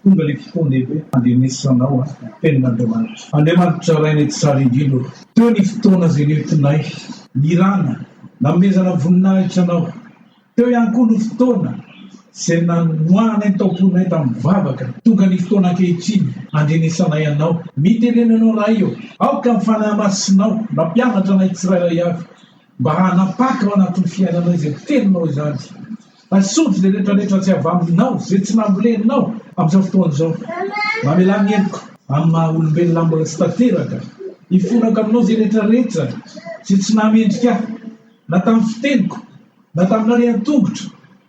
Tonga le fotoana lehibe handenesanao an tenin'Andriamanitra. Andriamanitra Ray nety tsara indrindra ô. Teo ny fotoana ze nentinay nirana nanomezana voninahitra anao. Teo ihany koa no fotoana ze nanohananay ny taomponay tamin'ny vavaka. Tonga ny fotoana ankehitriny handrenesanay anao. Mitenena anao Ray ô. Aoka ny Fanahy Masinao nampianatra anay tsirairay avy Mba hanapaka ao anatin'ny fiainanao izay teninao izany. Asolo izay retraretra tsy avy aminao, izay tsy namboleninao amin'izao fotoana izao. Mamelà ny heloko amin'ny maha-olombelona mbola tsy tanteraka. Hifonako aminao izay retraretra izay tsy nahamendrika ahy, na tamin'ny fiteniko, na tamin'ny halehan-tongotro,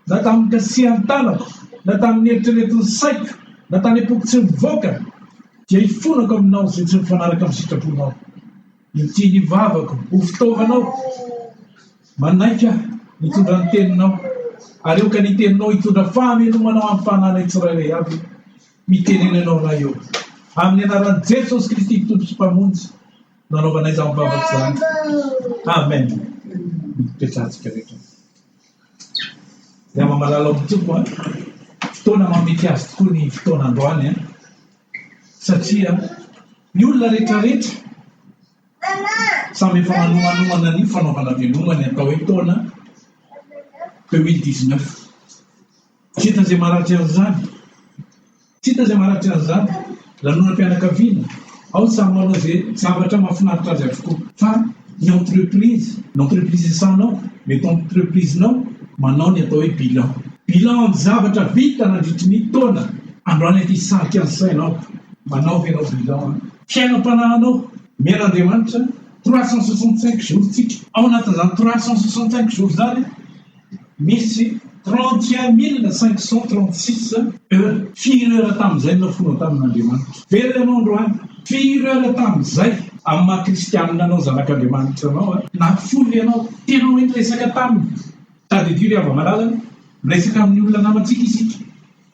na tamin'ny kasihan-tanako, na tamin'ny eritreretin'ny saiko, na tany am-poko tsy mivoaka, dia hifonako aminao izay tsy mifanaraka amin'ny sitraponao. Ity ny vavako ho fitaovanao, manaiky Ahy hitondra ny teninao, ary aoka ny teninao hitondra fahamelomana ho an'ny fananay tsirairay avy. Mitenena Ianao Ray ô, amin'ny anaran'i Jesosy Kristy Tompo sy Mpamonjy no anaovanay izany vavaka izany. Amen. Mipetrahantsika rehetra. Ry malala ao Tompo, fotoana mamety azy tokoa ny fotoana androany, satria Ny olona rehetrarehetra samy efa manomanoana an'io fanaovana veloma ny atao hoe taona deux mille dix neuf. Tsy hita izay maratra an'izany, tsy hita izay maratra an'izany. Lanonam-pianakaviana, ao ny samy manao izay zavatra mahafinaritra azy avokoa fa. ny entreprise, ny entreprise-nao, mety entreprise-nao manao ny atao hoe bilan, bilan-ny zavatra vita nandritry ny taona, androany aty hisarika ny sainao, manaova ianao bilan fiainam-panahinao, miaina Andriamanitra, trois cent soixante cinq jours-tsika, ao anatin'izany trois cent soixante cinq jours-zany, Misy trente et un mille cinq cent trente six heures. Firy heures tamin'izay no nafoana tamin'Andriamanitra? Velona ianao androany. Firy heures tamin'izay? Amin'ny maha kristianina anao zanak'Andriamanitra anao. Nafoy ianao. Tena hoe niresaka taminy. Tadidio ry hava-malala, miresaka amin'ny olona namantsika isika.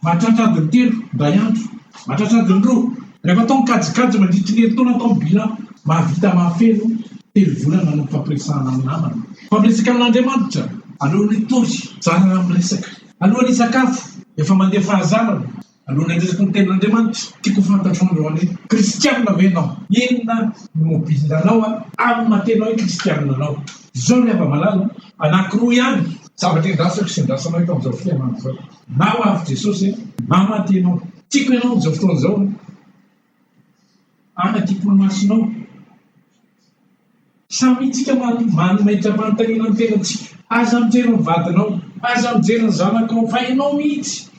Mahatratra adiny telo indray andro. Mahatratra adiny roa. Rehefa atao ny kajikajy mandritry ny herintaona atao ny bilan, mahavita mahafeno telo volana ny fampiresahana amin'ny namana. Fa miresaka amin'Andriamanitra alohan'ny hitory, zarana amin'ny resaka. Alohan'ny hisakafo, efa mandeha fahazarana, alohan'ny handresiko ny Tenin'Andriamanitra, tiako ho fantatro androany hoe kristiana ve ianao? Inona no mobile anao amin'ny maha tena hoe kristiana anao? Izao ry hava-malala, anankiroa ihany. Zavatra iandrasako sy iandrasanao eto amin'izao fihaonana izao. Maro avy Jesosy eh! Mba maty ianao. Tiako ianao amin'izao fotoana izao Any an-kimpony masinao Samy hitsika manohy Manometra manontaniana ny tenantsika Aza mijery ny vadinao Aza mijery ny zanakao Fa ianao mihitsy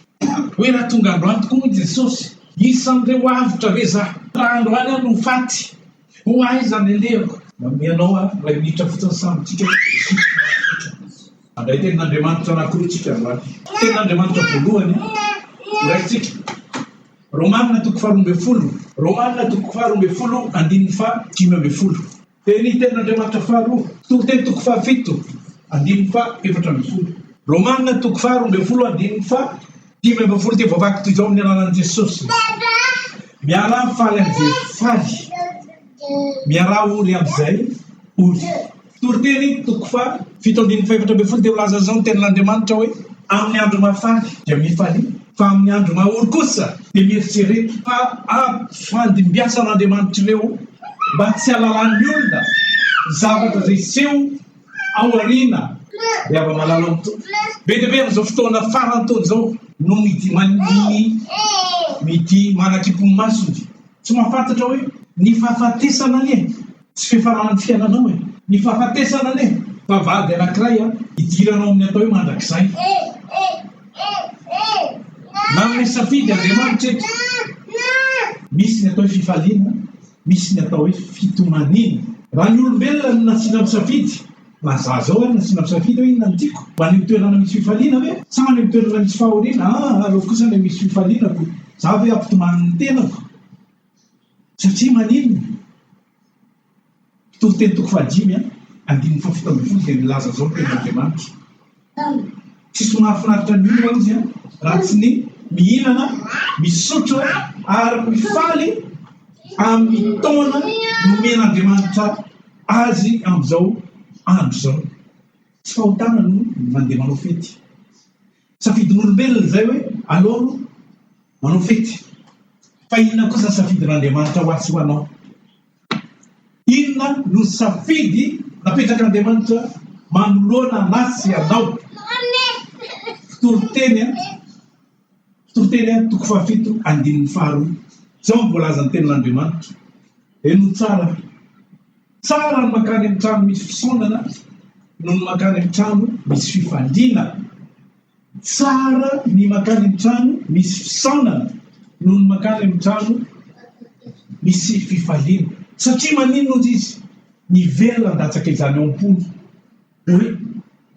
Hoe raha tonga androany tokoa hoy Jesosy Isan'ireo avotra ve zah Raha androany aho no faty Ho aiza ny leva? Manome anao aho iray minitra fotsiny samy tsika hisitry ny hafatra. Handray tenin'Andriamanitra anankiroa tsika androany. Tenin'Andriamanitra voalohany horaisitsika. Romana toko faharoa ambin'ny folo. Romana toko faharoa ambin'ny folo andininy faha dimy ambin'ny folo. Dia ny tenin'Andriamanitra faharoa. Toroteny toko fahafito andininy faha efatra ambin'ny folo. Romana toko faharoa ambin'ny folo andininy faha Dimy ambin'ny folo dia voavaky toy izao amin'ny anaran'i Jesosy. Miaraha faly amin'izay faly. Miaraha ory amin'izay ory. Toriteny toko fa fito andininy fahefatra ambin'ny folo dia milaza izao ny tenin'Andriamanitra hoe amin'ny andro mahafaly dia mifalia fa amin'ny andro mahaory kosa dia mieritrereta fa ampifandimbiasan'Andriamanitr'ireo mba tsy halalan'ny olona zavatra izay seho ao aoriana dia avy malala ny tompo be dia be amin'izao fotoana faran'ny taona izao no midy maniny midy manakimpony masony tsy mahafantatra hoe ny fahafatesana anie tsy fifaran'ny fiainanao e ny fahafatesana anie fa vady anankiray a idiranao amin'ny atao hoe mandrakizay nanome safidy Andriamanitra eto misy ny atao hoe fifaliana Misy ny atao hoe fitomaniana. Raha ny olombelona no nasiana misafidy, na za zao ary nasiana misafidy hoe inona no tiako, mba any amin'ny toerana misy fifaliana ve? Sa any amin'ny toerana misy fahoriana? Aa aleoko kosa ilay misy fifaliana ko za ve hampitomany ny tenako? Satria maninona? Mpitoriteny toko fahadimy andininy fahafito ambin'ny folo dia milaza zao ny tenin'Andriamanitra. Tsisy mahafinaritra ny olona izy an, raha tsy ny mihinana, misotro ary mifaly amin'ny taona nomen'Andriamanitra azy amin'izao andro izao. Tsy fahotana aloha ny mandeha manao fety. Safidin'olombelona izay hoe aleo aloha manao fety. Fa inona kosa ny safidin'Andriamanitra ho ahy sy ho anao? Inona no safidy napetrak'Andriamanitra manoloana anah sy anao? Fitoriteny a, fitoriteny a toko fahafito andininy faharoa, zao no voalaza ny tenin'Andriamanitra, henoy tsara, tsara ny makany amin'ny trano misy fisaonana noho ny makany amin'ny trano misy fifaliana. Tsara ny makany amin'ny trano misy fisaonana noho ny makany amin'ny trano misy fifaliana. Satria maninona ozy izy miverina handatsaka izany ao am-pony hoe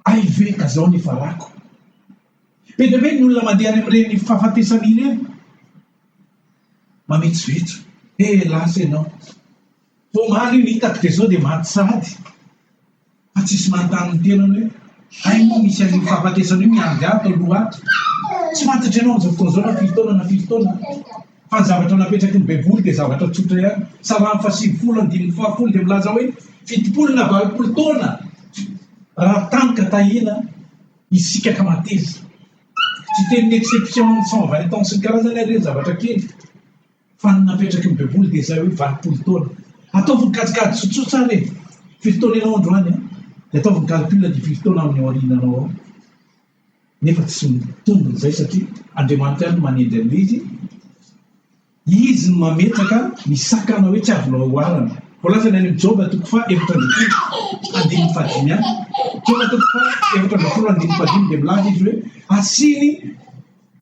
hay ve ka zao ny farako. Be dia be ny olona mandeha any amin'ireny fahafatesana ireny mametsovetso he lasa ianao. Vao omaly io ny hitako dia zao dia maty sahady. Fa tsisy manontany ny tenany hoe hay moa misy an'io fahafatesana io miandry ahy tao loha ato? Tsy fantatra ianao amin'izao fotoana izao na firy taona na firy taona aho. Fa ny zavatra napetraky ny Baiboly dia zavatra tsotra ihany. Salamo fahasivifolo andininy fahafolo dia milaza hoe fitopolo na valopolo taona raha tany ka tahiana isika ka mateza. Tsy tenin'ny exception amin'ny cent vingt ans sy ny karazany ary ireny zavatra kely. Fa ny napetraky ny baiboly dia izay hoe valopolo taona. Ataovy ny kajikajy tsotsotra ary e! Firy taona ianao androany an? Dia ataovy ny calcul ny firy taona amin'ny aoriananao ao. Nefa tsy mitombo izay satria Andriamanitra ihany no manendry an'ilay izy. Izy no mametraka ny sakana hoe tsy azo loalohana. Voalazany any amin'ny Joba toko fa efatra ambin'ny folo andininy fahadimy any. Joba toko fa efatra ambin'ny folo andininy fahadimy dia milaza izy hoe asiany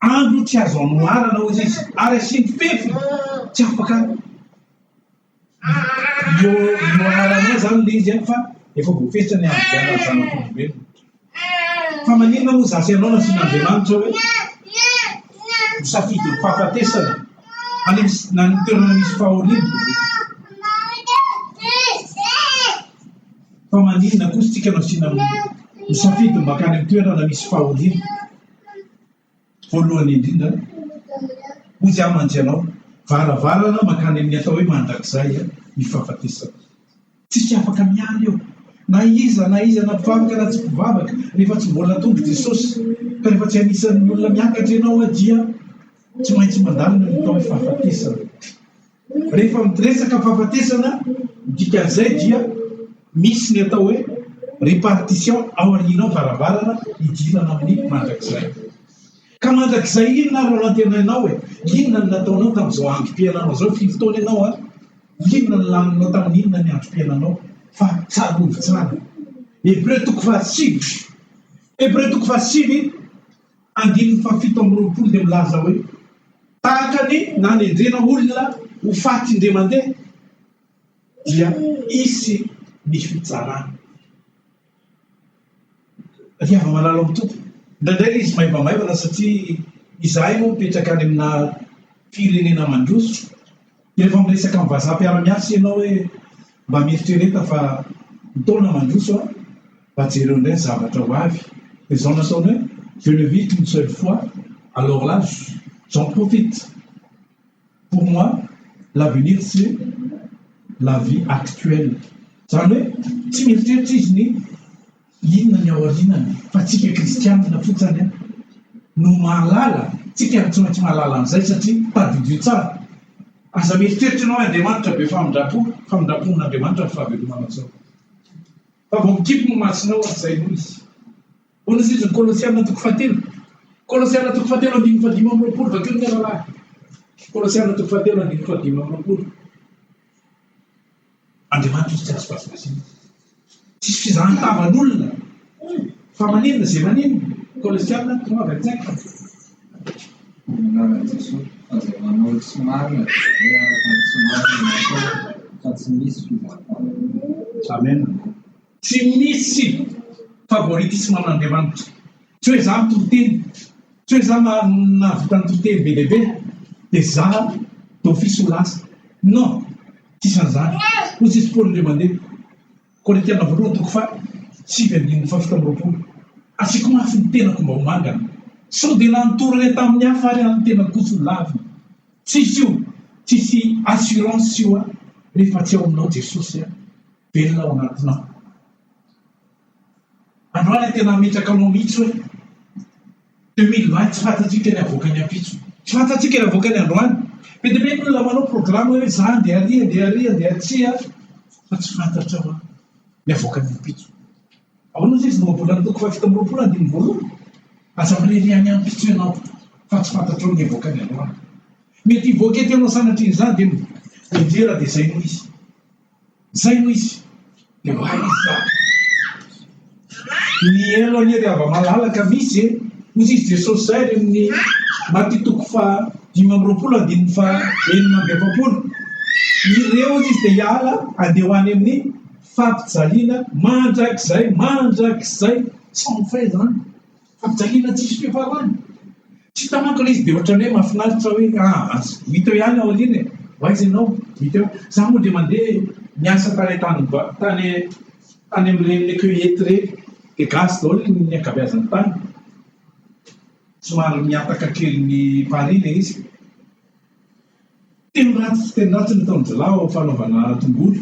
Andro tsy azo anoharana hozy izy ary asiany fefy tsy afaka io ioanaranao zany le izy any fa efa voafesitra ny andriana ny zanak'olombelona fa maninona moa zasy anao nasin'andriamanitra hoe misafidy ny fahafatesana any na ny toerana misy fahoriana fa maninona kosa tsika nasiana misafidy makany amin'ny toerana misy fahoriana Voalohany indrindra, hoy aho mantsy ianao, varavarana mankany amin'ny atao hoe mandrakizay ny fahafatesana. Tsisy afaka miala eo, na iza na iza, na mpivavaka na tsy mpivavaka, rehefa tsy mbola tonga i Jesosy, ka rehefa tsy anisan'ny olona miakatra ianao dia tsy maintsy mandalo ny atao hoe fahafatesana. Rehefa miresaka fahafatesana ny dikan'izay dia misy ny atao hoe repartition ao aorianao varavarana hidirana amin'ny mandrakizay. Ka mandrakizay inona ary no antenainao e? Inona no nataonao tamin'izao androm-piainanao izao? Firy taona ianao an? Inona no laninao tamin'ny inona ny androm-piainanao? Fa tsarovy tsara. Hebreo toko fahasivy. Hebreo toko fahasivy. andininy fahafito amby roapolo dia milaza hoe, Tahaka ny nanendrena olona ho faty indray mandeha, dia hisy ny fitsarana. Ry hava-malala ao amin'ny Tompo, indraindray ilay izy maivamaivana satria izahay moa mipetraka any amina firenena mandroso, Rehefa miresaka amin'ny vazaha mpiara-miasa ianao hoe mba mieritrereta fa ny taona mandroso an! mba jereo indray ny zavatra ho avy, dia izao no ataony hoe je ne vis qu'une seule fois alors là j'en profite! pour moi l'avenir c'est la vie actuelle, izany hoe tsy mieritreritra izy ny Inona ny aorianany fa tsika kristianina fotsany no mahalala, tsika ary tsy maintsy mahalala an'izay satria tadidio tsara. Aza mieritreritra ianao hoe Andriamanitra be famindrampo, famindrampon'Andriamanitra ny fahavelomanao sao fa vao mikipy ny masonao ary izay no izy. Ahoana izy ny Kolosiana toko fahatelo, Kolosiana toko fahatelo andininy fahadimy amby roapolo vakio ny rahalahy, Kolosiana toko fahatelo andininy fahadimy amby roapolo. Andriamanitra izy tsy azo vazivaziana. Tsisy fizahan-tavan'olona. Fa maninona izay maninona? Kolosiana, tonga avy an-tsaiko. Anarana Jesoa, fa izay manao ny tsy marina dia hoe araka ny tsy marina no ataony, fa tsy misy fizahan-tavan'olona. Amen. Tsy misy favoritisme an'Andriamanitra, tsy hoe za mitoriteny, tsy hoe za nahavita nitoriteny be dia be de za d'office ho lasa, non, tsisy an'zany, hoy tsisy Paoly indray mandeha, Korintiana voalohany toko faha sivy andininy faha fito amby roapolo, Asiako mafy ny tenako mba ho mangana, sao dia nanotorana tamin'ny hafa ary an'ny tenako kosa ho lavina, tsisy io, tsisy assurance io an, rehefa tsy ao aminao Jesosy an. Velona ao anatinao. Androany tena hametraka anao mihitsy hoe 2020 tsy fantatsika ny havoaka ny ampitso. Tsy fantatsika ny havoaka ny androany. Be dia be ny olona manao programa hoe za andeha ary, andeha ary, andeha atsy a. Fa tsy fantatra hoe ny havoaka ny ampitso. Ahoana ozy izy no ambolan'ny toko fahafito amby roapolo andininy voalohany? Aza mirery any ampitso ianao fa tsy fantatrao ny havoaka ny androany. Mety hivoaka ety anao sanatria izany dia mianjera dia izay no izy. Zay no izy de mahaiza mihaino anie ry hava-malala ka misy e! hoy izy Jesosy zay any amin'ny Maty toko faha dimy amby roapolo andininy faha enina amby efapolo ireo hoy izy de hiala andeha ho any amin'ny fampijaliana mandrakizay mandrakizay sans fin zany Fijaliana tsisy fifaroany. Tsy hitanako ilay izy dia ohatran'ny hoe mahafinaritra hoe ah as. Mito ihany ao aoriana e. Ho aiza ianao? Mito eo. Za moa dia mandeha miasa tany an-tanimbwa, tany tany amin'ireny le cueillette ireny. Dia gasy daholo ny ankabeazany tany. Somary mihataka kely ny Paris ilay izy. Teny ratsy teny ratsy no ataon'izilahy ao am-fanaovana tongolo.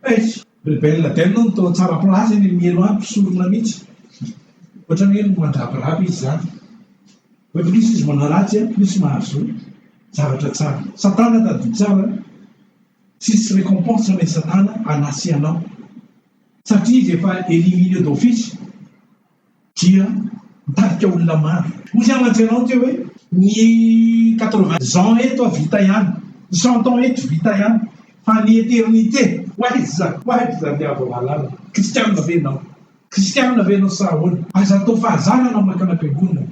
Eish! Ry Bella Del no toa tsara place eny amin'ny helo any, mpisorona mihitsy. Ohatran'ny hoe mandrabiraba izy izany. Hoe plus izy manao ratsy an, plus mahazo zavatra tsara. Satana tadidio tsara an! Tsisy récompense anay Satana hanasianao. Satria izy efa éliminé d'office. dia mitarika olona maro. Hoy i Alain Gerant teo hoe ny quatre-vingts ans eto vita ihany, ny cent ans eto vita ihany fa ny eternité. Ho aiza ho aiza ny avo lalana? Kristianina ve ianao? Kristianina ve ianao sa ahoana? Aza atao fahazarana mankana am-piangonana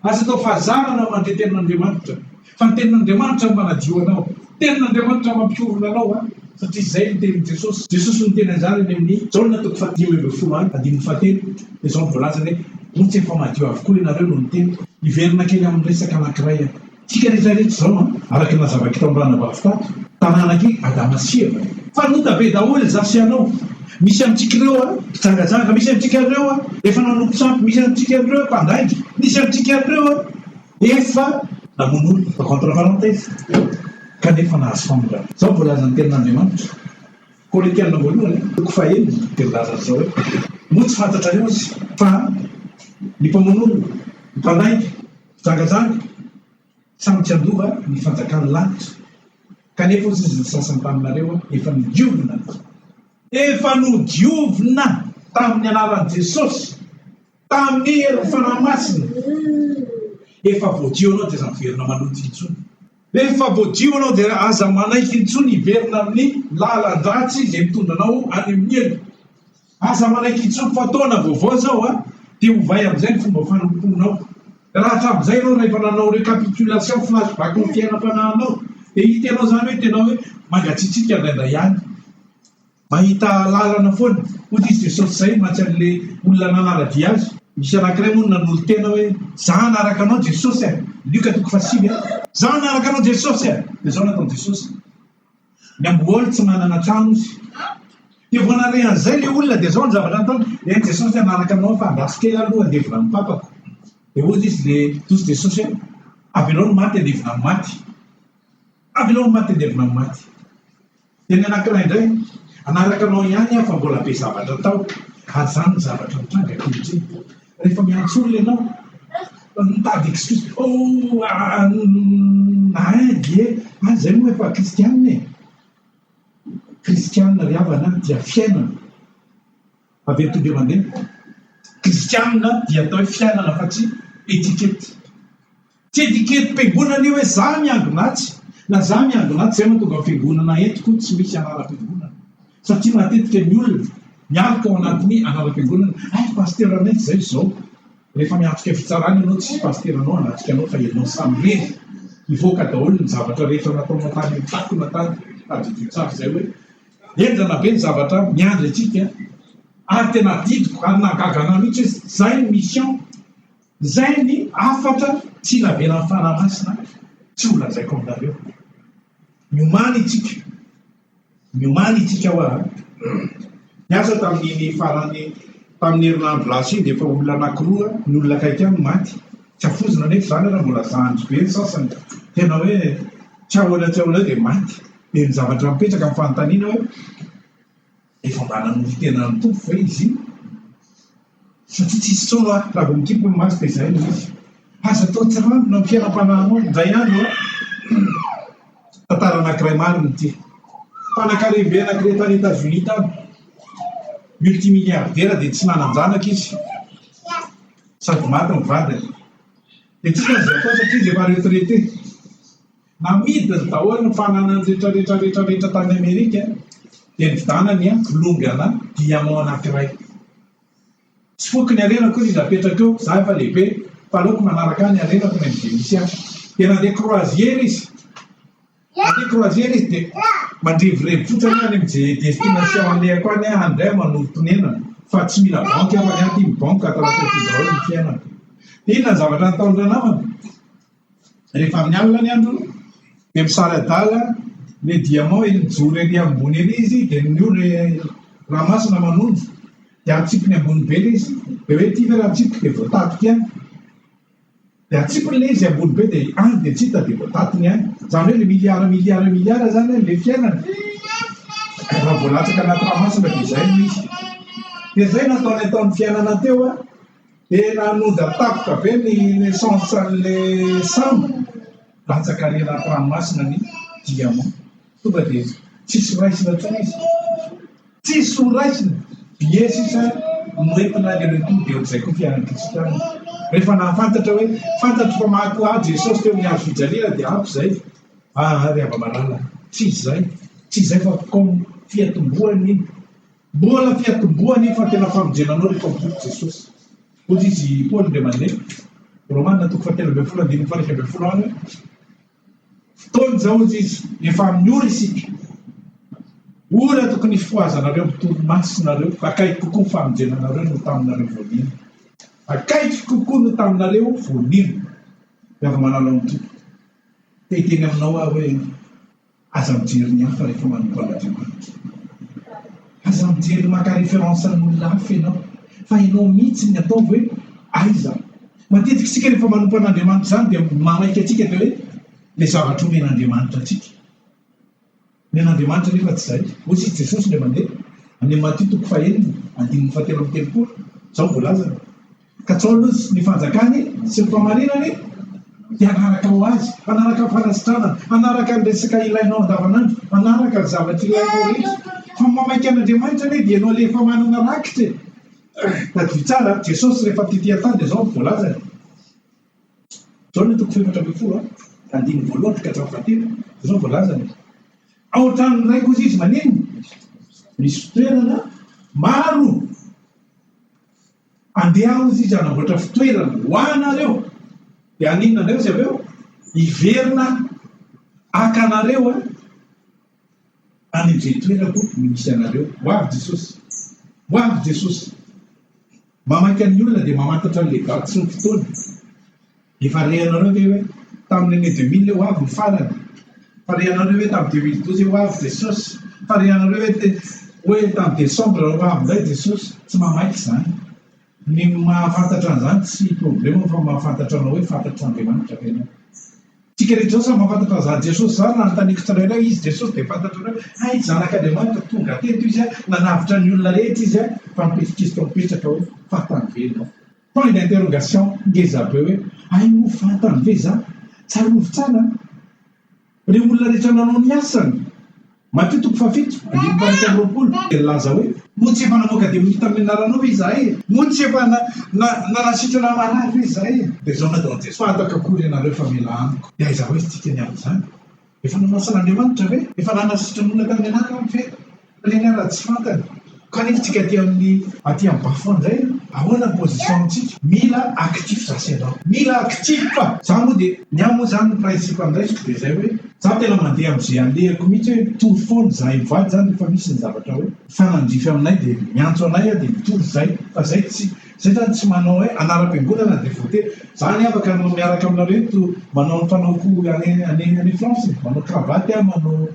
Aza atao fahazarana fa ny Tenin'Andriamanitra, fa ny Tenin'Andriamanitra no manadio anao. Tenin'Andriamanitra mampiorina anao an, satria izay no tenin'i Jesosy. Jesosy no niteny an'izany any amin'ny Jaona toko fahadimy ambin'ny folo an, andininy fahatelo, dia izao no voalazany hoe, Montsy efa madio avokoa ianareo noho ny teniko. Hiverina kely amin'ny resaka anankiray aho. Tsika rehetra rehetra izao an, araka ny nazavaiko tamin'ny ranabavy tato, taranak'i Adama sy Eva e. Fa nota be daholo izaho sy ianao. Misy amintsika ireo a mpijangajanga, misy amintsika ireo a efa nanompo sampy, misy amintsika ireo mpandainga, misy amintsika ireo a efa namono olona, contre parenthèse, kanefa nahazo famindrampo. Izao ny voalazan'ny Tenin'Andriamanitra, Korintiana voalohany, toko fahenina, dia milaza an'izao hoe, Moa tsy fantatrareo aza fa ny mpamono olona, ny mpandainga, ny mpijangajanga, Sa mitsiandova ny fanjakan'ny lanitra? Kanefa hozy izy ny sasany taminareo efa nodiovina ny. Efa nodiovina tamin'ny anaran'i Jesosy, tamin'ny herin'ny Fanahy Masina. Efa voadio anao dia aza miverina maloto intsony. Rehefa voadio anao dia aza manaiky intsony hiverina amin'ny lalan-dratsy izay mitondra anao any amin'ny helo. Aza manaiky intsony fa taona vaovao izao a! dia ovay amin'izay ny fomba fanompoanao. Raha hatramin'izay ianao rahefa nanao recapitulation, flashback ny fiainam-panahinao dia hitanao izany hoe tena hoe mangatsiatsiaka indraindray ihany, mahita lalana foana. Hoy Kristy Jesosy, izay mantsy an'ilay olona nanara-dia Azy. Misy anankiray moa no nanolo-tena hoe, Izaho hanaraka Anao Jesosy a! Lioka toko fahasivy a. Izaho hanaraka Anao Jesosy a! Dia izao nataon'i Jesosy, Ny amboaly tsy manana trano izy. Dia vao nare an'izay ilay olona dia izao ny zavatra nataony, eny Jesosy hanaraka anao aho fa andraso kely aho aloha handevina ny papako. Dia hoy izy le hoy izy Jesosy hoe avelao ny maty handevina ny maty. Avelao ny maty handevina ny maty. Dia ny anankiray indray hanaraka anao ihany aho fa mbola be zavatra atao. Ary izany ny zavatra mitranga ankehitriny. Rehefa miantso olona ianao, mitady excuse, oh ain Dieu, ah izay moa efa kristianina e! Kristianina ry havana an, dia fiainana. Avy eo tonga eo mandeha. Kristianina dia atao hoe fiainana fa tsy etiquette. Tsy etiketi-piangonana io hoe za miangon'atsy na za miangon'atsy zay no tonga fiangonana eto koa tsy misy anaram-piangonana satria matetika ny olona mialoka ao anatin'ny anaram-piangonana hay pasitera anay tsy zay zao rehefa miatrika fitsarana ianao tsy pasitera anao anatrika anao fa ianao samy rery hivoaka daholo ny zavatra rehefa nataonao tany amin'ny takona tany tadidio tsara zay hoe henjana be ny zavatra miandry antsika ary tena adidiko ary nahagaga anah mihitsy hoe zay ny mission Izay ny hafatra tsy navelan'ny Fanahy Masina tsy ho lazaiko aminareo. Miomana itsika. Miomana itsika hoa. Niasa tamin'iny farany tamin'ny herinandro lasa iny dia efa olona anankiroa ny olona akaiky ahy no maty. Tsy afoizina anefa izany ary mbola zandry be ny sasany. Tena hoe tsy ahoana tsy ahoana eo dia maty. Dia ny zavatra mipetraka ny fanontaniana hoe. Efa mba nanolo tena ny Tompo ve izy iny? Satria tsy hisy intsony raha vao mikimpy ny maso dia izay no izy. Aza atao tsirambina ny fiainam-panahinao indray andro an! Tantara anankiray marina ity. Mpanankarem-be anankiray tany Etazonia tany. Multimilliardaire dia tsy nanan-janaka izy. Sady maty ny vadiny. Dia tsy nisy azo atao satria izy efa retraité. Namidiny daholo ny fananany rehetra rehetra rehetra rehetra tany Amerika dia nividanany an longue ana diamant anankiray. Tsy foiko ny harena akory izy apetraka eo, za efa lehibe fa aleoko manaraka ahy ny harena tonga ny Venitien. Dia nandeha croisière izy. Nandeha croisière izy dia mandrevirevy fotsiny any amin'izay destination alehako any aho indray manorim-ponenana fa tsy mila banque aho fa ny ahy tim banque ato anatin'ity daholo ny fiainako. Dia inona ny zavatra nataony ranamana? Rehefa amin'ny alina ny andro dia misary adala le diamant ery mijoro ery ambony ery izy dia ny ora rà masina manondro dia atsipiny ambony be le izy dia hoe ity ve raha atsipiko dia voataty ity any dia atsipiny le izy ambony be dia any dia tsy hita dia voatatiny any izany hoe le milliard milliard milliard izany le fiainana raha vao latsaka anaty rà masina dia izay no izy dia izay no ataony ataony fiainana teo an Tena hanonda-tafika be ny naissance an'ilay sambo rantsan-karena ato ranomasina ny diamant. Tonga dia tsisy raisina intsony izy. Tsisy ho raisina. Billet sisa no entina aller retour dia ohatr'izay koa fiainan'ny kristiana. Rehefa nahafantatra hoe fantatro fa maty ho ahy Jesosy teo amin'ny hazo fijaliana dia ampy izay. Aa ry hava-maralana, tsy izay, tsy izay fa comme fiatombohan'ny. Mbola te hatomboa anie fa tena famonjena anao ry Tompo Jesosy. Hoy izy i Paoly indray mandeha, Romana toko fahatelo ambin'ny folo andininy faha iraika ambin'ny folo any hoe, Fotoana izao, hoy izy, efa amin'ny ora isika. Ora tokony hifohazanareo amin'ny tony masina ireo, akaiky kokoa ny famonjena anareo noho taminareo vao nino. Akaiky kokoa noho taminareo vao nino. Dia avy manao ny Tompo. Te hiteny aminao aho hoe, Aza mijery ny hafa rehefa manompo an'Andriamanitra. Aza mijery maka référence an'olona hafa ianao fa ianao mihitsy ny ataovy hoe aiza aho. Matetika isika rehefa manompo an'Andriamanitra izany dia manaiky antsika dia hoe ilay zavatra omen'Andriamanitra antsika. Ny an'Andriamanitra anefa tsy izay. Hoy i Jesosy indray mandeha, amin'ny Matio toko fahenina andininy fahatelo amby telopolo, izao no voalazany, Katsao aloha ny fanjakany sy ny famarinany dia hanaraka ho azy, hanaraka ny fanasitranany, hanaraka ny resaka ilainao andavanandro, hanaraka ny zavatra ilainao rehetra. Fa mamaika an'Andriamanitra anie dia ianao ilay efa manana rakitra e! Tadidio tsara an, Jesosy rehefa tetỳ an-tany dia izao no voalazany, Jaona toko fahefatra ambin'ny folo an, andininy voalohany ka hatramin'ny fahatelo, dia izao no voalazany, Ao an-tranon'ny Ray kosa izy maninona? Misy fitoerana maro. Andeha hozy izy hanamboatra fitoerana ho anareo, dia haninona indray izy avy eo? Hiverina haka anareo any amin'izay toerako misy anareo. Ho avy Jesosy, ho avy Jesosy. Mamaky an'ny olona dia mamantatra an'ilay vatsy ny fotoana. Efa rehanareo ve hoe tamin'ny année deux mille ho avy ny farany? Fa rehanareo hoe tamin'ny deux mille douze ho avy Jesosy? Fa rehanareo hoe te hoe tamin'ny décembre ho avy indray Jesosy? Tsy mahamaika izany. Ny mahafantatra an'izany tsy problème fa mahafantatra anao hoe fantatr'Andriamanitra ve ianao. Tsika rehetra izao samy mahafantatra an'izany Jesosy izany raha anontaniko tsirairay izy Jesosy dia fantatrareo hoe hay zanak'Andriamanitra tonga teto izy a, nanavotra ny olona rehetra izy a, fa mipetraka izy tao mipetraka hoe fantany ve ianao? Point d'interrogation ngeza be hoe hay moa fantany ve za? Tsarovy tsara an! Reo olona rehetra nanao ny asany! Matio toko fahafito andininy fahaefatra amby roapolo dia nilaza hoe. Moa tsy efa namoaka demonia tamin'ny anaranao ve izahay e? Moa tsy efa nanasitrana marary ve izahay e? Taizao na daholo Jesoa, ato akakory ianareo fa mila amiko. Dia aiza hoy isika ny amin'izany? Efa nomasin'Andriamanitra ve? Efa lana sitrany olona tamin'ny anarana aho ve? Teny ary raha tsy fantany. Kanefa tsika aty amin'ny aty amin'ny bas-fond indray ahoana ny position antsika? Mila actif za sy ianao. Mila actif fa za moa dia ny ahy moa zany ny principe andraisiko dia zay hoe za tena mandeha am'zay alehako mihitsy hoe mitory foana izahay mivady zany rehefa misy ny zavatra hoe mifanandrify aminay dia miantso anay aho dia mitory zay fa zay tsy Zay zany tsy manao hoe anaram-piangonana dia voatery zany afaka anao miaraka aminareo eto manao ny fanaoko any any any France e, manao cravatte aho manao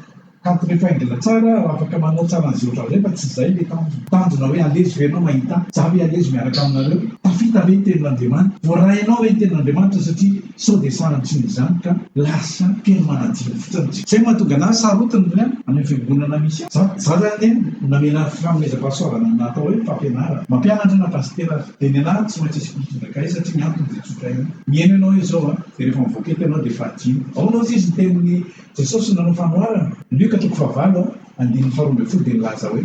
kanto mifaingina tsara aho afaka manao tsara an'izay ohatran'izay fa tsy zay le tanjona. Tanjona hoe alezo ve ianao mahita ahy, za ve alezo miaraka aminareo, tafita ve ny tenin'Andriamanitra, voarainao ve ny tenin'Andriamanitra satria Sao dia sahan'ny tsy mizan ka lasa teny manadino fotsiny tsy. Zay mahatonga anahy sarotiny ny any amin'ny fiangonana misy ahy. Za zany anie namela fanomezam-pahasoavana ny atao hoe fampianarana. Mampianatra na pasitera aza dia ny anahy tsy maintsy hisy mpitondra kay satria ny antony dia tsotra ihany. Mihaino ianao izao a, dia rehefa mivoaka eto ianao dia efa adino. Aona ozy izy ny tenin'i Jesosy nanao fanoharana? Lioka toko fahavalo andininy faharoa ambin'ny folo dia nilaza hoe.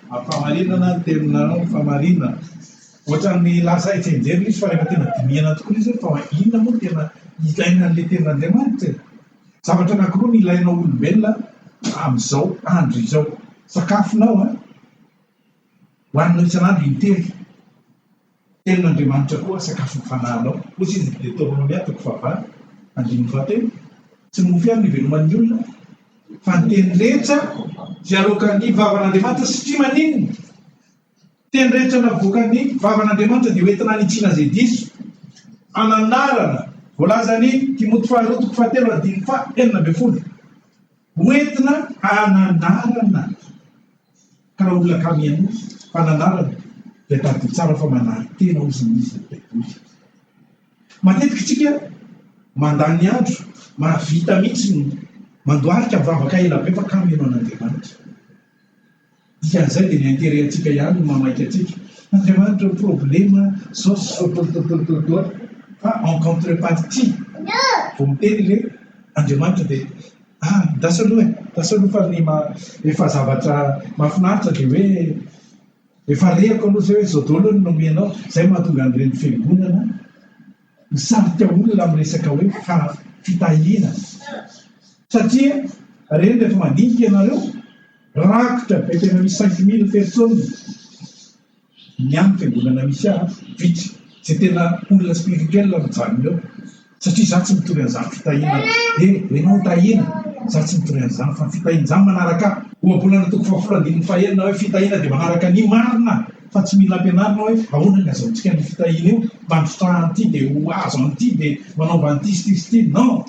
Mampamarinana ny teninao ny famarinana. Ohatran'ny lasa hetsi-anjery izy fa rehefa tena dinihana tokoa izy hoe fa inona moa no tena ilaina an'ilay tenin'Andriamanitra e? Zavatra anankiroa no ilainao olombelona amin'izao andro izao, sakafonao an, hohaninao isan'andro intelo. Ny tenin'Andriamanitra koa sakafo ny fanahinao. Hoy izy ny Deoteronomia toko fahavalo, andininy fahatelo, Tsy ny mofo ihany no iveloman'ny olona, fa ny teny rehetra izay aloakan'ny vavan'Andriamanitra, satria maninona? Ny teny rehetra navoakan'ny vavan'Andriamanitra dia hoentina hanitsiana izay diso ananarana, voalazan'i Timoty faharoa toko fahatelo, andininy faha enina ambin'ny folo. Ho entina hananarana ka raha olona kami an'io fananarana dia tadidio tsara fa manary tena ao izy n'izy ny baiboly. Matetika isika mandany andro mahavita mihitsy ny mandoarika mivavaka ela be fa kami ianao an'Andriamanitra. Dikan'izay dia ny intérêt antsika ihany no mamaika antsika. Andriamanitra ny problème zao sototototototoa fa en contrepartie vao miteny le Andriamanitra dia ah ndasy aloha e, ndasy aloha fa ny maha efa zavatra mahafinaritra dia hoe efa rehako aloha zay hoe zao daolo no nomenao zay mahatonga an'ireny fiangonana misarika olona amin'ny resaka hoe fitahiana satria reny rehefa mandinika ianareo rakotra be tena misy cinq mille personnes ny amin'ny fiangonana misy ahy vitsy zay tena olona spirituel mijanona eo satria za tsy mitory an'izany fitahiana e ianao tahiana za tsy mitory an'izany fa ny fitahiana izany manaraka ahy ohabolana toko fahafolo andininy fahenina hoe fitahiana dia manaraka ny marina Fa tsy mila ampianarina hoe ahoana ny azahoantsika an'io fitahiana io mba misotraha an'ity dia ho azo an'ity dia manaova an'ity sy ity sy ity. Non!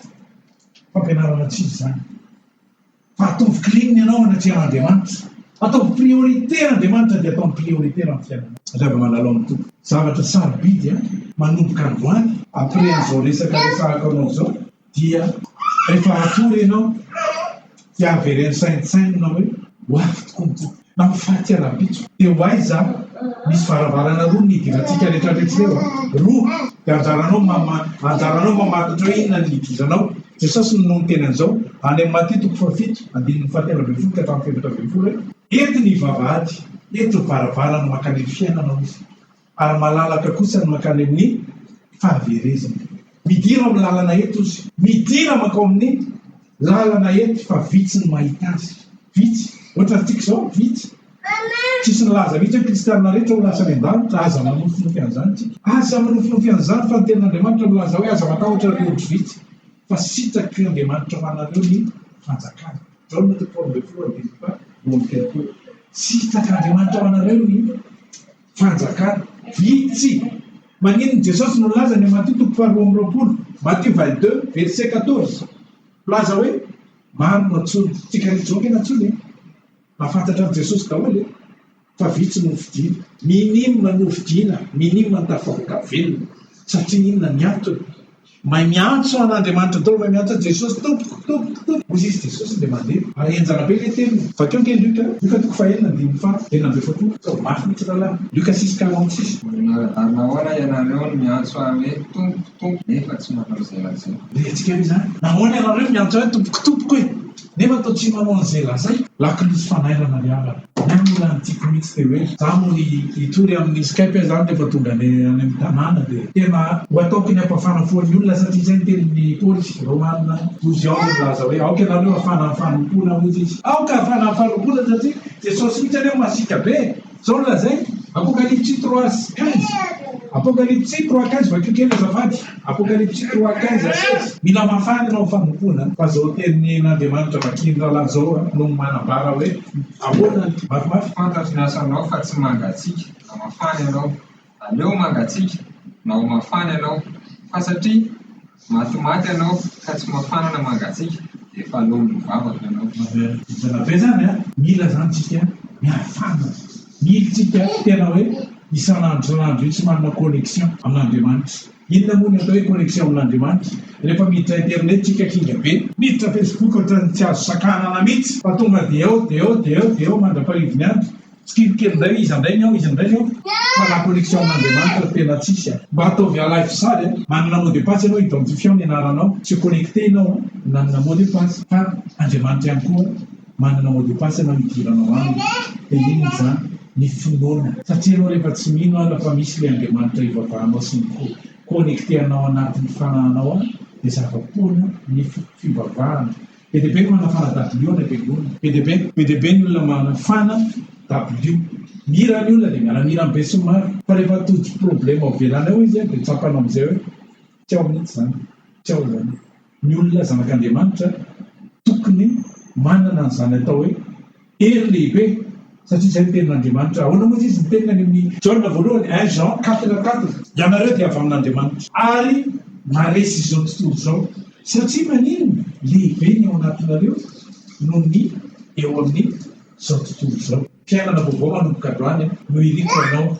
Fampianarana tsy izy izany. Fa ataovy clean ny anao hanatreha an'Andriamanitra. Ataovy priorité Andriamanitra dia ataovy priorité raha ny fiainanao. Alaivo manalao ny Tompo. Zavatra sarobidy an! Manomboka androany. Après an'izao resaka resahako anao izao. Dia rehefa hatory ianao dia avereno saintsainina hoe ho avy tokoa ny Tompo na ho faty rahampitso. Dia ho aiza aho? Misy varavarana roa ny idirantsika rehetra jereo a! Roa! Dia anjaranao mama, anjaranao mamatotra hoe inona no hidiranao. Jesosy no niteny an'izao any amin'ny Matia toko fahafito andininy fahatelo ambin'ny folo ka hatramin'ny fahefatra ambin'ny folo hoe. Eto ny vavahady, eto ny varavarana mankany amin'ny fiainana, hoy Izy. Ary malalaka kosa ny mankany amin'ny fahaverezana. Midira ao amin'ny lalana eto izy. Midira mankao amin'ny lalana eto fa vitsy ny mahita azy. Vitsy. Ohatra antsika izao, vitsy. Tsy hisy nilaza mihitsy hoe kristiana rehetra ho lasa any an-danitra. Aza manofinofy an'izany isika. Aza manofinofy an'izany fa ny tenin'Andriamanitra milaza hoe aza matahotra ry ondry vitsy fa sitraky Andriamanitra ho anareo ny fanjakany. Jaona toko faharoa ambin'ny folo andininy faha roa amby telopolo. Sitrak'Andriamanitra ho anareo ny. Fanjakana. Vitsy! Maninona Jesosy no nilaza ny Matio toko faharoa amby roapolo, Matthieu vingt deux, verset quatorze, milaza hoe maro no antsoiny? Tsy karetsy vahoaka ny antsoiny e! Mba fantatran'i Jesosy daholo e! Fa vitsy no hofidiana. Minima no hofidiana, minima ny tafavoaka velona. Satria inona ny antony? May miantso an Andriamanitra Tompo may miantso an Jesosy Tompoko Tompoko Tompoko hoy izy Jesosy dia mandeha ary henjana be ilay teniny Vakio ange Luc a Luc toko fahenina andininy faha enina ambin'ny folo Tompo tsaho mafy mihitsy rahalahy Luc six quarante six. Manara-dalana ahoana ianareo no miantso ahy hoe Tompoko Tompoko nefa tsy manao izay lazaiko. Rehatsika hoe izany. Nahoana ianareo miantso ahy Tompoko Tompoko e? Nefa toa tsy manao an'izay lazaiko. Lakolosy fanairana ry havana. Ny ahy moa lany tiako mihitsy dia hoe za moa ny hitory amin'ny skype zany rehefa tonga any any amin'ny tanàna dia tena ho ataoko ny hampafana fo an'ny olona satria izay ny tenin'ny polisy Romana douze ans milaza hoe aoka ianareo hafana amin'ny fanompoana hozy izy aoka hafana amin'ny fanompoana satria Jesosy mihitsy anie masiaka be e. Zao no lazainy, Apokalipsy trois quinze, Apokalipsy trois quinze, vakio kely azafady, Apokalipsy trois quinze à seize. Mila mafana ianao fanompoana fa zao teny n'Andriamanitra vakian'i rahalahy zao no manambara hoe ahoana ny mafimafy. Fantatro ny asanao fa tsy mangatsiaka, mba mafana ianao. Aleo mangatsiaka na ho mafana ianao, fa satria matimaty ianao ka tsy mafana na mangatsiaka dia efa lolo ny vavako ianao. Vintana be zany a! Mila izany tsika miaro fanina, mily tsika tena hoe isan'andro isan'andro io tsy manana connexion amin'Andriamanitra. Inona moa ny atao hoe connexion amin'Andriamanitra? Rehefa miditra internet tsika kinga be, miditra facebook ohatran'ny tsy azo sakanana mihitsy fa tonga dia ao dia ao dia ao dia ao mandra-pahivon'ny andro, Kely kely indray iza indray ny ao iza indray ny ao fa la connexion amin'Andriamanitra no tena tsisy a! Mba ataovy à live sary a! Manana mot de passe ianao identifiant ny anaranao tsy connecter ianao a! Nanana mot de passe fa Andriamanitra ihany koa manana mot de passe ianao hidiranao aminy dia inona izany? Ny finoana satria ianao rehefa tsy mino ara fa misy ilay Andriamanitra ivavahanao sy ny co connecter anao anatin'ny fanahinao any dia zava-poana ny fivavahana Be dia be ny manafana dabilio any am-piangonana. Be dia be. Be dia be ny olona manafana dabilio. Mihira ny olona dia miara-mihira amin'ny besinimaro. Fa rehefa tojo problema ao ivelany ao izy dia tsapanao amin'izay hoe tsy ao mihitsy izany, tsy ao izany. Ny olona zanak'Andriamanitra tokony manana an'izany atao hoe. Hery lehibe, satria izay no tenin'Andriamanitra. Ahoana moa izy no teniny any amin'ny. Jaona voalohany, un Jean quatre quatre. Ianareo dia avy amin'Andriamanitra. Ary maharesy izao tontolo izao, satria maninona? Lehibe ny ao anatinareo noho ny eo amin'izao tontolo izao. Fiainana vaovao manomboka androany no iriko ho anao.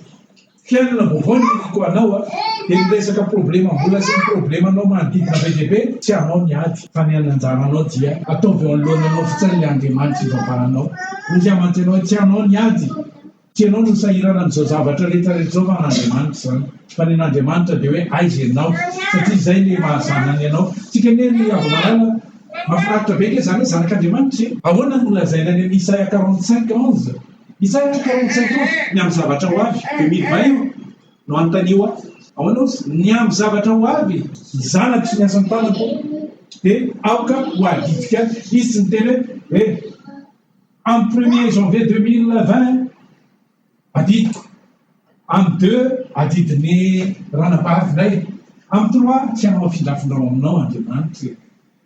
Fiainana vaovao ny nofiko ho anao a! Dia ny resaka problemam-bola sy ny problemanao manodidina be dia be, tsy anao ny ady, fa ny an'anjaranao dia ataovy eo anoloana anao fotsiny ilay Andriamanitra ivavahanao. Hoy aho mantsy anao, tsy anao ny ady, tsy ianao no sahirana amin'izao zavatra rehetrarehetra izao fa an'Andriamanitra izany, fa ny an'Andriamanitra dia hoe aiza ianao, satria izay ilay maha zanany anao. Tsika anie ry Ravomalala, mahafinaritra be ange izany hoe zanak'Andriamanitra e! Ahoana no lazaina any amin'ny Isaia quarante cinq onze? Izaho tia karine tsy aiko ny amin'ny zavatra ho avy dia mily vay io no anontanio ahy ahoana ozy ny amin'ny zavatra ho avy zanako sy ny asan'ny tanako dia aoka ho adidika any izy tsy miteny hoe eh amin'ny premier janvier deux mille vingt adidiko amin'ny deux adidin'ny ranabavinay amin'ny trois tsy hanao afindrafindrao aminao andriamanitra e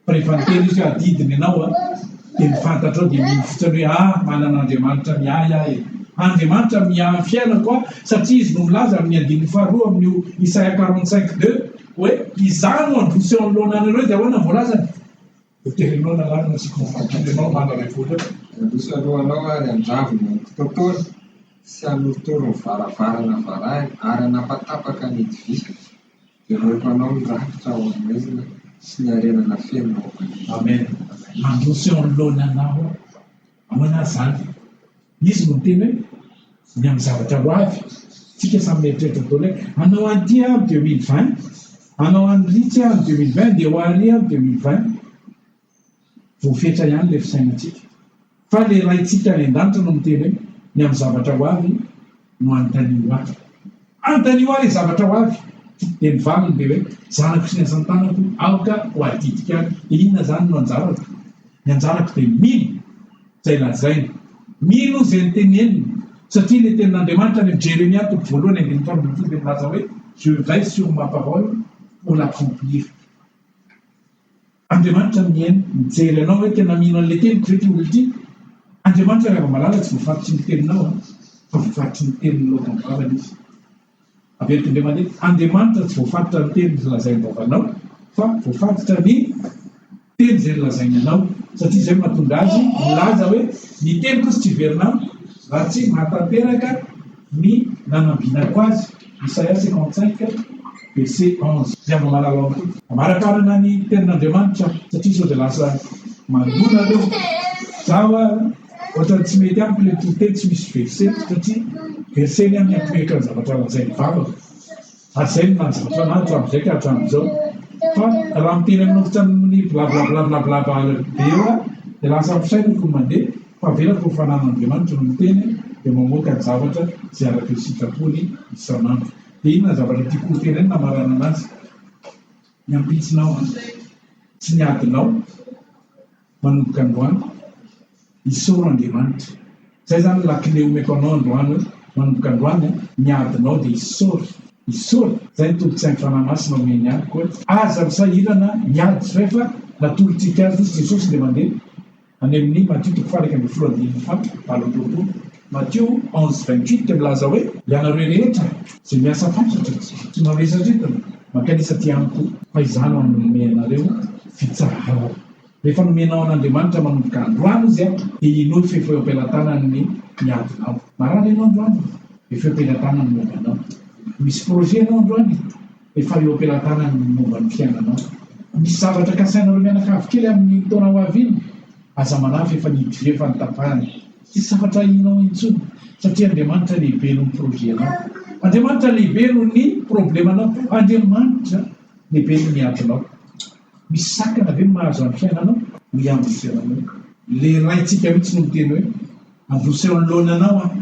Rehefa niteny izy hoe adidiny ianao a, dia ny fantatrao dia mino fotsiny hoe a, manana Andriamanitra miahy ahy e. Andriamanitra miahy ny fiainako aho, satria izy no milaza amin'ny andininy faharoa amin'io Isaia quarante cinq deux hoe izaho no handroso eo anoloana anareo dia ahoana ny voalazany? Hoterenao lalàna sy vovoky ianao manda repoly eo. Handroso aloha anao ary handravo ny antontontony sy hanorotoro ny varavarana varahina ary hanapatapaka ny idivisana. Ireo mpanao ny rakitra ao amin'ny maizina sy ny harena nafenina ao am-pandriana. Amen. Mandroso eo anoloany Anao aho. Amen azany. Izy no miteny hoe, Ny amin'ny zavatra ho avy. Tsika samy mieritreritra daholo hoe, Hanao an'ity aho amin'ny deux mille vingt. Hanao an'iritsy aho amin'ny deux mille vingt. Andeha ho àry aho amin'ny deux mille vingt. Voafetra ihany ilay fisainantsika fa ilay Raintsika any an-danitra no miteny hoe, Ny amin'ny zavatra ho avy no anontanio ho ahy. Anontanio ahy ilay zavatra ho avy. Dia ny valiny dia hoe, Zanako sy ny asan-tanako, aoka ho adidiko ahy. Dia inona izany no anjarako? Ny anjarako dia mino izay lazainy, mino izay noteneniny, satria ilay Tenin'Andriamanitra any amin'ny Jeremia toko voalohany andininy folo ambin'ny folo dia milaza hoe, Je veille sur ma parole pour l'accomplir. Andriamanitra mihaino, mijery anao hoe tena mino an'ilay teniko ve ity olona ity? Andriamanitra ry hava-malala tsy voafaritry ny teninao an, fa voafaritry ny tenin'ny loka ny vavany izy. Averiko indray mandeha, Andriamanitra tsy voafaritra ny teny izay lazain'ny vavanao, fa voafaritra ny teny izay nolazainy anao, satria izay no mahatonga azy milaza hoe ny teniko izy tsy hiverina amiko raha tsy mahatanteraka. ny nanambinako azy, Isaia cinquante cinq verset onze, dia mba mahalala ao koa. Amarakarana ny tenin'Andriamanitra aho, satria sao dia lasa mandona aho, za hoa ohatrany tsy mety amiko le toro-teny tsy misy verset, satria verset ny amin'ny apoiakan'ny zavatra lazain'ny vavako. Hatrizay no nahazotra anah hatramin'izay ka hatramin'izao fa raha miteny amin'olon-tsa amin'ny blablablablabla be eo aho dia lasa fisainako ny mandeha fa avelako ho fananan'Andriamanitra no miteny dia mamoaka ny zavatra izay araka ny sitrapony isan'andro. Dia inona ny zavatra tiako ho tenenina hamaranana azy? Ny ampitsonao an! Tsy ny adinao! manomboka androany, isaoro Andriamanitra. Zay zany lakile omeko anao androany hoe manomboka androany an, ny adinao dia isaory, isaory, zay ny tombotsain'ny Fanahy Masina omeny ahy koa hoe aza misahirana ny ady rehefa natolotrika azy izy Jesosy dia mandeha any amin'ny Matio toko faha iraika ambin'ny folo andininy faha valo amby roapolo, Matio onze vingt huit dia milaza hoe ianareo rehetra izay miasa fatratra sy mavesatretina mankanesa aty amiko fa izaho no hanome anareo fitsaharana. Rehefa nomenao an'Andriamanitra manomboka androany izy dia henoy fefy feo am-pelatanany ny adinao. Marary ianao androany dia feo am-pelatanany momba anao. Misy projet ianao androany dia efa eo am-pelatanany ny momba ny fiainanao. Misy zavatra kasainareo mianakavy kely amin'ny taona ho avy iny, aza manahy fa efa nidiria efa nitapahana. Tsy sarotra ahianao intsony satria Andriamanitra lehibe noho ny projet anao. Andriamanitra lehibe noho ny problème anao. Andriamanitra lehibe noho ny adinao. Misy sakana ve ny mahazo an'ny fiainanao? Hoy aho ny fiainanao. Ilay Raintsika mihitsy no miteny hoe, Andosy eo anoloana Anao aho.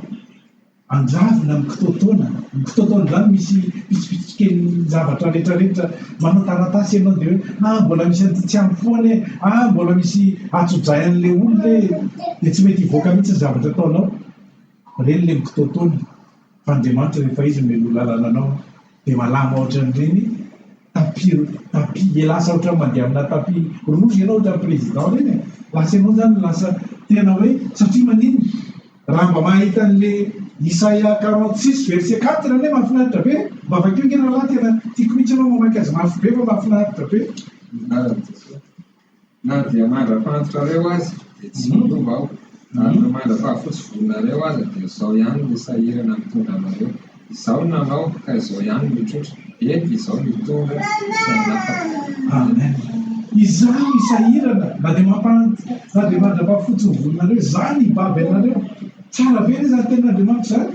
Andravina ny kitoatoana. Ny kitoatoana izany misy pitsopitsopy kelin'ny zavatra rehetrarehetra. Manao taratasy ianao dia hoe, Ah, mbola misy an'ity tsy ampy foana e! Ah, mbola misy hatso-dray an'ilay olona e! Dia tsy mety hivoaka mihitsy ny zavatra ataonao. Ireny ilay mikitoatoana. Fa Andriamanitra, rehefa Izy no mialoha lalana anao, dia malama hoatran'ireny. Tapis tapis dia lasa ohatran'ny mandeha amina tapis rouge ianao ohatran'ny président ireny e! lasa ianao izany lasa tena hoe satria maninona? raha mba mahita an'le isaia quarante six verset quatre anie mahafinaritra be e! mba vakio nge rahalahy tena tiako mihitsy ianao mamaky azy mafy be fa mahafinaritra be ny anaran'i Jesoa. Na dia mandra-pahantrareo aza dia tsy miova aho, ary na mandra-pahafotsy volonareo aza dia izao ihany ny sahirana mitondra anareo. Izaho no nanao, ka izao ihany no hitrotra, eny, izaho no hitondra sy hanapaka. Amen. Izaho no sahirana, na dia mampahantra, na dia mandra-pahafotsy ny volonareo, izaho no hibaby anareo. Tsara be ve izany tenin'Andriamanitra izany?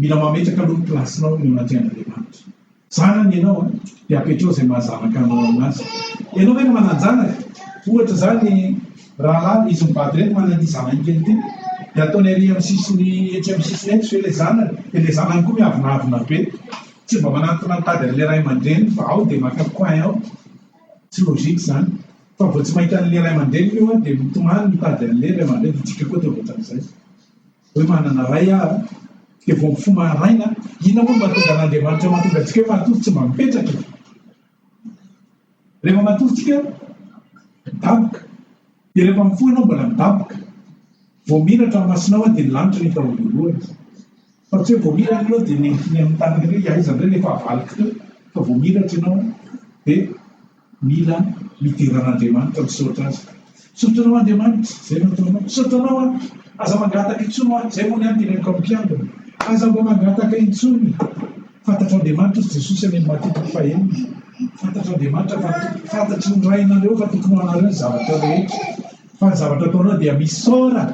Mila mametraka aloha ny placenao eo anatrehan'Andriamanitra. Zanany ianao an, dia apetraho izay maha zanaka anao azy. Ianao ve no manan-janaka? Ohatra izany ny rahalahy izy mivady ireny manana ity zanany kely ity, dia ataony ary amin'ny sisiny etsy amin'ny sisiny etsy ve ilay zanany? Dia ilay zanany koa miavonavona be, tsy mba manantona ny tady an'ilay ray aman-dreniny fa ao dia maka coin ao. Tsy logique izany. Fa vao tsy mahita an'ilay ray aman-dreniny io an, dia mitomany mitady an'ilay ray aman-dreniny, dia isika koa dia ohatran'izay. Hoe manana Ray aho a, dia vao mifoha maraina a, inona moa no mahatonga an'Andriamanitra mahatonga antsika hoe matory tsy mba mipetraka e? Rehefa matory tsika midaboka, dia rehefa mifoha ianao mbola midaboka, vao mira hatramin'ny masonao a, dia ny lanitra no hita ho voalohany, fa tsy hoe vao mira ianao dia nentina amin'ny tany hoe aiza indray ilay fahavaloko teo, fa vao miratra ianao dia. Mila midera an'Andriamanitra misaotra Azy. Misaotra Anao Andriamanitra izay nataonao. Misaotra Anao aho. Aza mangataka intsony ho ahy. Izay moa ny ahy teneniko amin'ny mpiangona. Aza mba mangataka intsony. Fantatr'Andriamanitra hoy Jesosy any amin'ny Matio toko fahenina. Fantatr'Andriamanitra fa fantatry ny Rainareo fa tokony ho anareo ny zavatra rehetra. Fa ny zavatra ataonao dia misaora.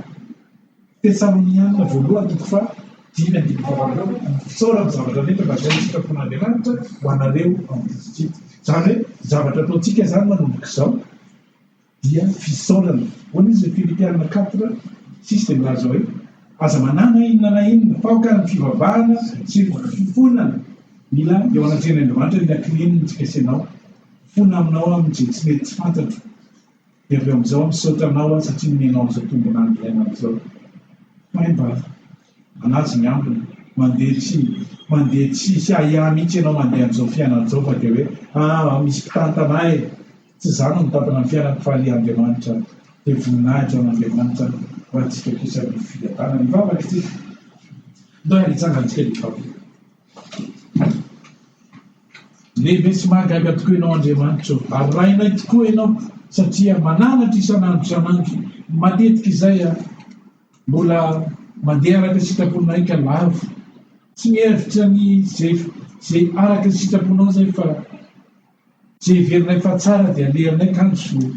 Tetsy amin'ny andininy voalohany toko faha dimy andininy faha valopolo, Isaorana ny zavatra rehetra fa izay ny sitrapon'Andriamanitra ho anareo ao amin'i Kristy Jesoa. Izany hoe ny zavatra ataontsika izany manomboka izao dia fisaorana. Hoy izy ny Filipiana quatre six dia milaza hoe, Aza manana inona na inona fa aoka ny fivavahana sy ny fifonana mila eo anatrehan'Andriamanitra ny lakile ny fikasena ao, mifona aminao amin'ny izay tsy mety tsy fantatro. Dia avy amin'izao misaotra anao aho satria nomenao an'izao tombona andro iainana izao. Hay mba manaja ny ambiny, mandeha tsy mandeha tsy hisy ahiahy mihitsy ianao mandeha amin'izao fiainana izao fa dia hoe aa misy mpitantana ahy e! Tsy izaho no mitantana ny fiainako fa ry Andriamanitra aho. Dia voninahitra ho an'Andriamanitra aho ho antsika kosa ny fiadanany. Mivavaka isika. Ndeha hitsangan-tsika dia hivavaka. Lehibe sy mahagaga tokoa Ianao Andriamanitra ô! Arahinay tokoa Ianao satria mananatra isan'andro isan'andro. Matetika izay mbola mandeha araka ny sitraponay ka lavo. Tsy mihevitra ny izay araka ny sitraponao izay fa. Tsy heverinay fa tsara dia alehannay kany soa.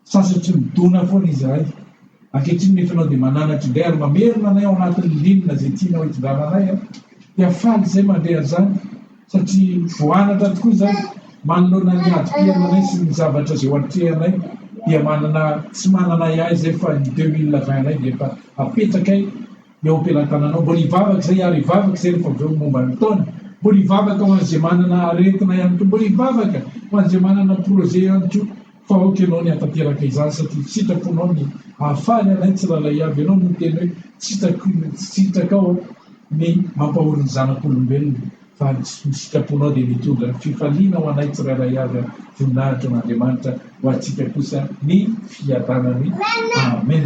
Sasa tsy midona foana izahay. Ankehitriny nefa ianao dia mananatra indray ary mamerina anay ao anatin'ny linina izay tianao hitondrananay an! Dia faly izahay mandre an'izany satria voanatra tokoa izahay manoloana ny hadim-piaina anay sy ny zavatra izay eo atrehanay dia manana tsy manana ahiahy izahay fa ny deux mille vingt anay dia efa apetrakay eo am-pelantananao, mbola hivavaka izay ary hivavaka izay rehefa avy eo momba ny taona, mbola hivavaka ho an'izay manana aretina ihany koa, mbola hivavaka ho an'izay manana projet ihany koa fa aoka ianao ny hatateraka izany satria sitraponao ny hahafaly anay tsiralay avy, ianao no niteny hoe sitrak'olona tsy sitrakao ny mampahory ny zanak'olombelona fa ny sitraponao dia mitondra fifaliana ho anay tsiralay avy ary voninahitra ho an'Andriamanitra ho antsika kosa ny fiadanany, amen.